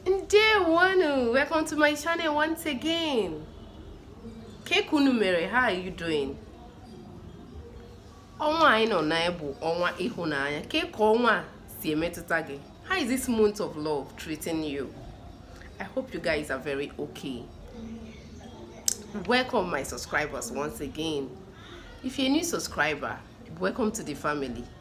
Ndewonu, welcome to my channel once again. Ke ka unu mere, how are you doing? Ọnwa anyị nọ na bụ ọnwa ịhụnanya. Ke ka ọnwa si emetụta gị? How is this month of love treating you? I hope you guys are very okay. Welcome my subscribers once again. If you're a new subscriber, welcome to the family.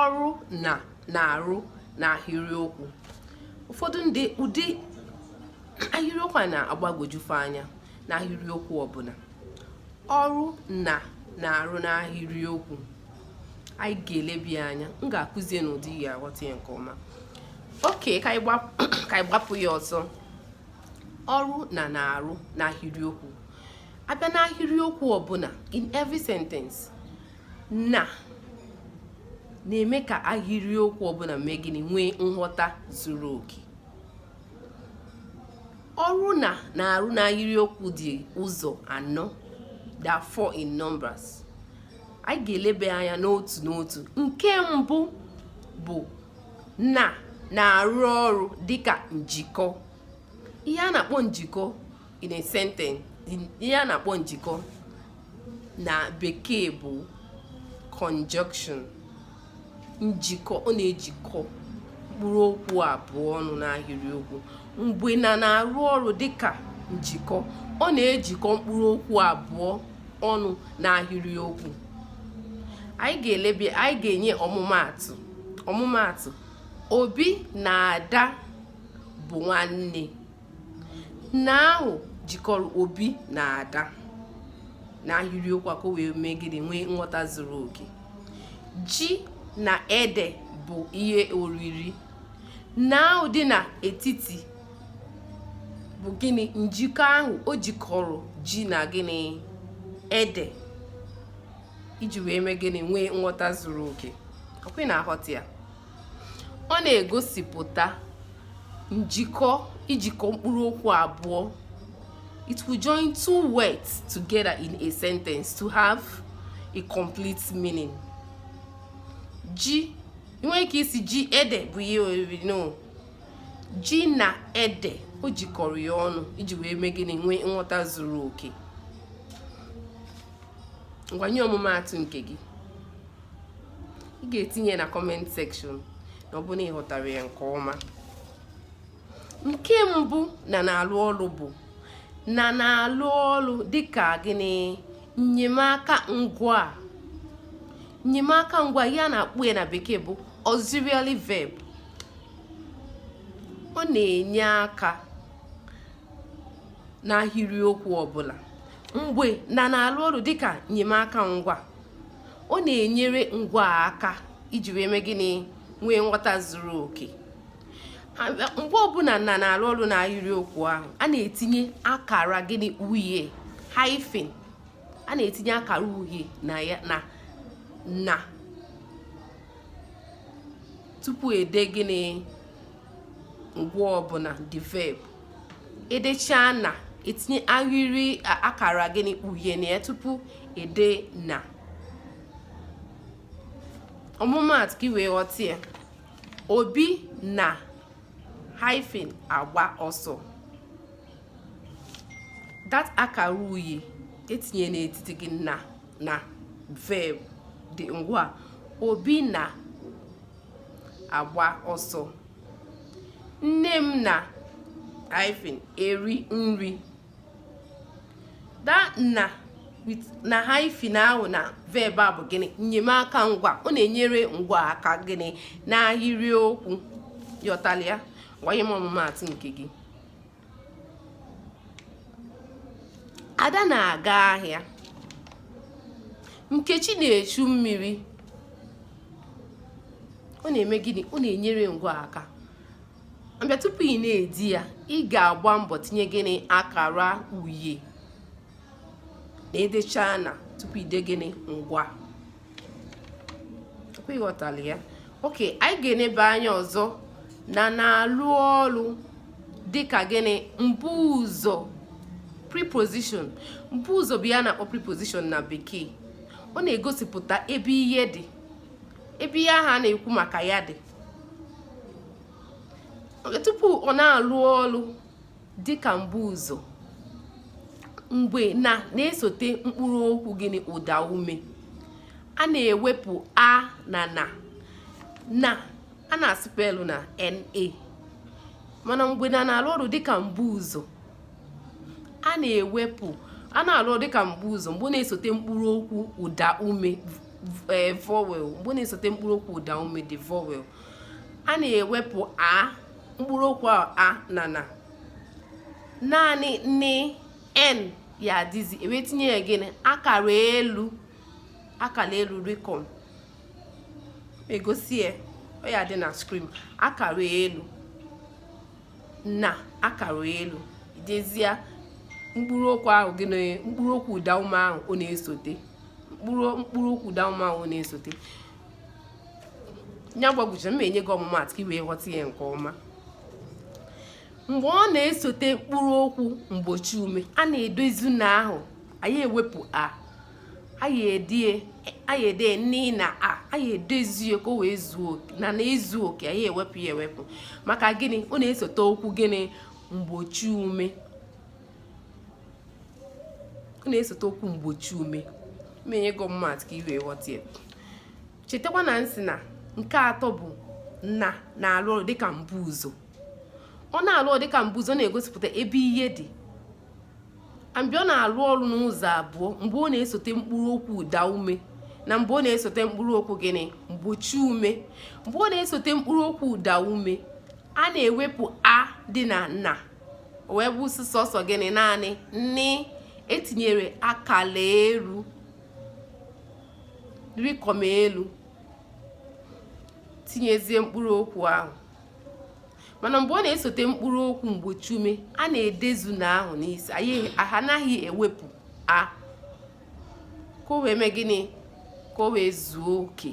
ọrụ na na-arụ na ahịrịokwu ụfọdụ ndị ụdị ahịrịokwu a na-agbagwojufe anya na ahịrịokwu ọbụla ọrụ na na-arụ na ahịrịokwu anyị ga-elebe anya m ga-akụzie n'ụdị ị ya-aghọta ya nke ọma okay ka anyị gbapụ ya ọzọ ọrụ na na-arụ n'ahịrịokwu a bịa n'ahịrịokwu ọbụla in every sentence na na-eme ka ahịrịokwu ọbụla mee gịnị nwee nghọta zuru oke ọrụ na na-arụ n'ahịrịokwu dị ụzọ anọ they are four in numbers anyị ga-elebe anya n'otu n'otu nke mbụ bụ na na-arụ ọrụ dịka njikọ ihe a na-akpọ njikọ in a sentence ihe a na-akpọ njikọ na bekee bụ conjunction njikọ ọ na-ejikọ mkpụrụ okwu abụọ ọnụ n'ahịrịokwu mgbe na na-arụ ọrụ dịka njikọ ọ na-ejikọ mkpụrụ okwu abụọ ọnụ n'ahịrịokwu anyị ga-elebe anyị ga-enye ọmụmaatụ ọmụmaatụ obi na ada bụ nwanne na ahụ jikọrọ obi na ada na ahịrịokwu a ka o wee mee gịnị nwee nghọta zuru oke ji na ede bụ ihe oriri na ahụ dị n'etiti bụ gịnị njikọ ahụ o jikọrọ ji na gịnị ede iji wee mee gịnị nwee nghọta zuru oke ọ kwa ị na-aghọta ya ọ na-egosipụta njikọ ijikọ mkpụrụ okwu abụọ it will join two words together in a sentence to have a complete meaning ji i nwee ike ịsị ji ede bụ ihe oriri no ji na ede o jikọrọ ya ọnụ iji wee mee gịnị nwee nghọta zuru oke ngwa nye ọmụmaatụ nke gị ị ga-etinye na comment section na ọ bụ na ị ghọtara ya nke ọma nke mbụ na na-alụ ọrụ bụ na na-alụ ọrụ dịka gịnị nnyemaka ngwaa nnyemaka ngwaa ihe a na-akpọ ya na bekee bụ auxiliary verb ọ na-enye aka n'ahịrịokwu ọbụla mgbe na na-alụ ọrụ dịka nnyemaka ngwaa ọ na-enyere ngwaa aka iji wee mee gịnị nwee nghọta zuru oke mgbe ọbụla na na-arụ ọrụ na ahịrịokwu ahụ a na-etinye akara gịnị uhie hyphen a na-etinye akara uhie na ya na na tupu e dee gịnị ngwaa ọbụla the verb e dechaa na e tinye ahịrị akara gịnị uhie na ya tupu e dee na ọmụmaatụ ka ị wee ghọta ya obi na hyphen agba ọsọ that akara uhie e tinye n'etiti gịnị na na verb the ngwaa obi na agba ọsọ nne m na hyphen eri nri that na na hyphen ahụ na verb a bụ gịnị nnyemaka ngwaa ọ na-enyere ngwaa aka gịnị n'ahịrịokwu ị ghọtala ya gwanye m ọmụmaatụ nke gị ada na-aga ahịa nkechi na-echu mmiri ọ na-eme gịnị ọ na-enyere ngwaa aka mgbe tupu ị na-ede ya ị ga-agba mbọ tinye gịnị akara uhie na e dechaa na tupu i dee gịnị ngwaa ị ghọtala ya okay anyị ga-enebe anya ọzọ na na-alụ ọlụ dịka gịnị mbuụzọ preposition mbuụzọ bụ ihe a na-akpọ preposition na bekee ọ na-egosipụta ebe ihe dị ebe ihe ahụ a na-ekwu maka ya dị tupu ọ na-alụ ọlụ dịka mbuụzọ mgbe na na-esote mkpụrụ okwu gịnị ụda ume a na-ewepụ a na na na a na-asụpelụ na na mana mgbe na na-alụ ọrụ dịka mbuụzọ a na-ewepụ a na-alụ ọrụ dịka mbuụzọ mgbe na-esote mkpụrụ okwu ụda ume the vowel mgbe na-esote mkpụrụ okwu ụda ume the vowel a na-ewepụ a mkpụrụ okwu a na na naanị n n ya-adịzi e wee tinye ya gịnị akara elu akara elu rịkọm e gosi ya ọ ya-adị na skrin akara elu na akara elu i dezie mkpụrụ okwu ahụ gịnị mkpụrụ okwu ụda ume ahụ ọ na-esote mkpụrụ okwu ụda ume ahụ ọ na-esote ya gbagwuche m enye gị ọmụmaatụ ka i wee ghọta ya nke ọma mgbe ọ na-esote mkpụrụ okwu mgbochi ume a na-edezu na ahụ anaghị ewepụ a anyị ede anyị ede n na a anyị edezu ya ka o wee zuo oke na na-ezu oke anaghị ewepụ ya ewepụ maka gịnị ọ na-esote okwu gịnị mgbochi ume ọ na-esote okwu mgbochi ume m enye gị ọmụmaatụ ka i wee ghọta ya chetakwa na m sị na nke atọ bụ na na-alụ ọrụ dịka mbuụzọ ọ na-alụ ọrụ dịka mbuụzọ ọ na-egosipụta ebe ihe dị mgbe ọ na-alụ ọrụ n'ụzọ abụọ mgbe ọ na-esote mkpụrụ okwu ụda ume na mgbe ọ na-esote mkpụrụ okwu gịnị mgbochi ume mgbe ọ na-esote mkpụrụ okwu ụda ume a na-ewepụ a dị na na o wee bụ sọsọ gịnị naanị n e tinyere akala elu rịkọm elu tinyezie mkpụrụ okwu ahụ mana mgbe ọ na-esote mkpụrụ okwu mgbochi ume a na-edezu na ahụ n'isi anyị anaghị ewepụ a ka o wee mee gịnị ka o wee zuo oke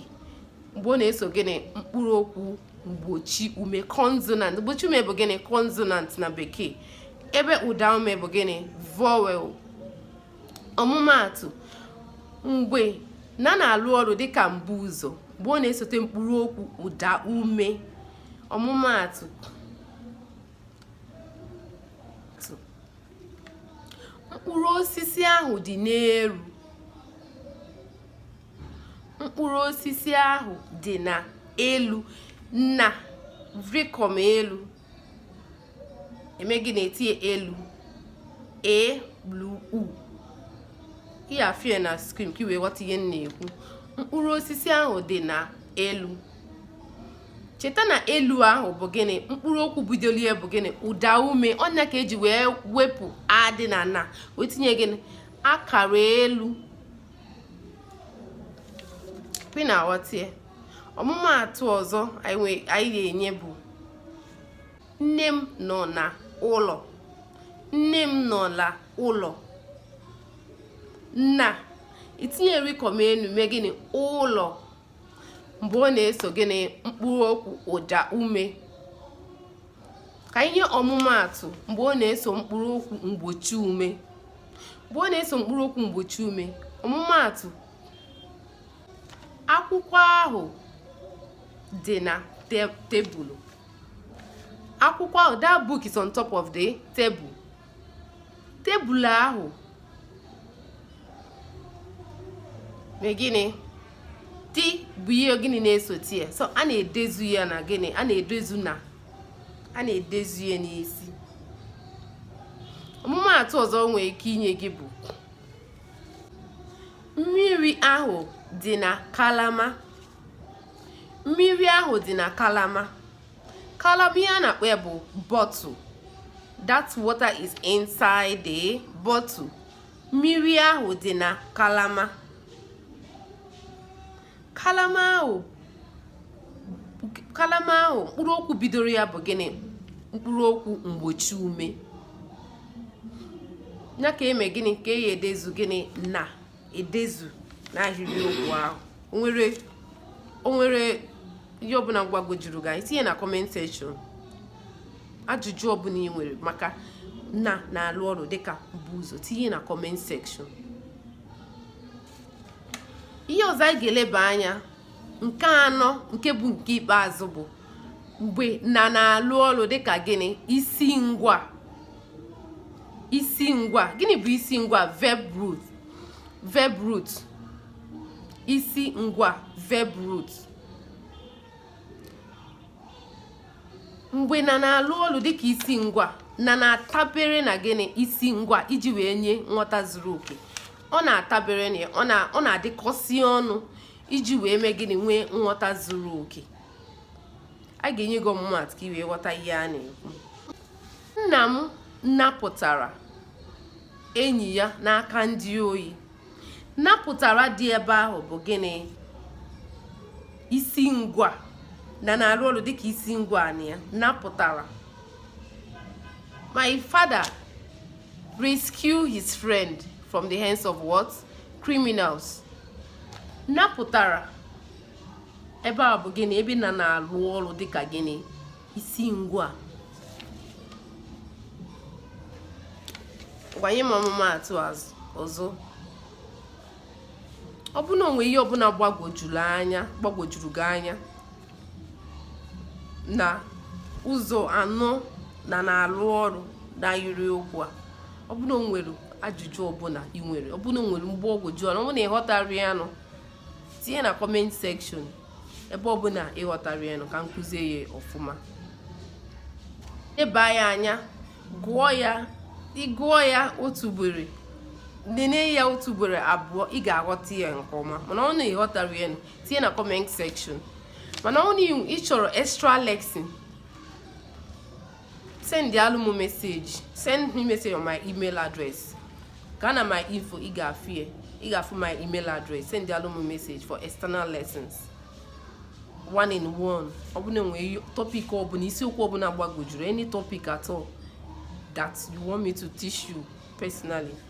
mgbe ọ na-eso gịnị mkpụrụ okwu mgbochi ume consonant mgbochi ume bụ gịnị consonant na bekee ebe ụda ume bụ gịnị vowel ọmụmaatụ mgbe na na-alụ ọrụ dịka mbuụzọ mgbe ọ na-esote mkpụrụ okwu ụda ume ọmụmaatụ mkpụrụ osisi ahụ dị n'elu mkpụrụ osisi ahụ dị na elu na rịkọm elu e mee gịnị e tinye elu e l u ị ya-afụ ya na skrin ka i wee ghọta ihe m na-ekwu mkpụrụ osisi ahụ dị na elu cheta na elu ahụ bụ gịnị mkpụrụ okwu bidolu ya bụ gịnị ụda ume ọ nya ka e ji wee wepụ a dị na na wee tinye gịnị akara elu ị na-aghọta ya ọmụmaatụ ọzọ anyị ga-enye bụ nne m nọ na ụlọ nne m nọ na ụlọ na itinye rikom enu mee gịnị ụlọ mgbe ọ na-eso gịnị mkpụrụ okwu ụda ume ka e nye ọmụmaatụ mgbe ọ na-eso mkpụrụ okwu mgbochi ume mgbe ọ na-eso mkpụrụ okwu mgbochi ume ọmụmaatụ akwụkwọ ahụ dị na tebụl akwụkwọ ahụ that book is on top of the table tebụl ahụ mee gịnị ti bụ ihe gịnị na-esote ya so a na-edezu ya na gịnị a na-edezu na a na-edezu ya n'isi ọmụmaatụ ọzọ nwee ike inye gị bụ mmiri ahụ dị na kalama mmiri ahụ dị na kalama kalama ihe a na-akpọ ya bụ bottle that water is inside the bottle mmiri ahụ dị na kalama kalama ahụ kalama ahụ mkpụrụ okwu bidoro ya bụ gịnị mkpụrụ okwu mgbochi ume nya ka e mee gịnị ka e ji edezu gịnị na edezu na ahịrịokwu ahụ o nwere o nwere ihe ọbụla gbagwojuru gị anya tinye na comment section ajụjụ ọbụla ị nwere maka na na-alụ ọrụ dịka mbuụzọ tinye na comment section ihe ọzọ anyị ga-eleba anya nke anọ nke bụ nke ikpeazụ bụ mgbe na na-alụ ọrụ dịka gịnị isi ngwa isi ngwa gịnị bụ isi ngwa verb root verb root isi ngwa verb root mgbe na na-alụ ọrụ dịka isi ngwa na na-atabere na gịnị isi ngwa iji wee nye nghọta zuru oke ọ na-atabere na ọ na-adịkọsi ọnụ iji wee mee gịnị nwee nghọta zuru oke a ga-enye gị ọmụmaatụ ka ị wee ghọta ihe a na-ekwu nna m napụtara enyi ya n'aka ndị ohi napụtara dị ebe ahụ bụ gịnị isi ngwa na na-alụ ọrụ dịka isi ngwa na ya napụtara my father rescued his friend from the hands of what criminals napụtara ebe a bụ gịnị ebe na na-alụ ọrụ dịka gịnị isi ngwa ngwa nye m ọmụmaatụ ọzọ ọ bụ na o nwee ihe ọbụla gbagwojuru gị anya na ụzọ anọ na na-arụ ọrụ n'ahịrịokwu a ọ bụ na o nwere ajụjụ ọbụla ị nwere ọ bụ na o nwere mgbagwoju anya ọ bụ na ịghọtara ya nụ tinye na comment section ebe ọbụla ịghọtara ya nụ ka m kụzie ya ọfụma leba ya anya gụọ ya ị gụọ ya otu ugboro nene ya otu ugboro abụọ ị ga-aghọta ya nke ọma mana ọ na ịghọtara ya nụ tinye na comment section mana ọ na ị chọrọ extra lesson send alụ m message send me message on my email address gaa na my info ị ga-afụ ya ị ga-afụ my email address send alụ m message for external lessons one in one ọ bụ na e nwee topic ọbụla isiokwu ọbụla gbagojuru any topic at all that you want me to teach you personally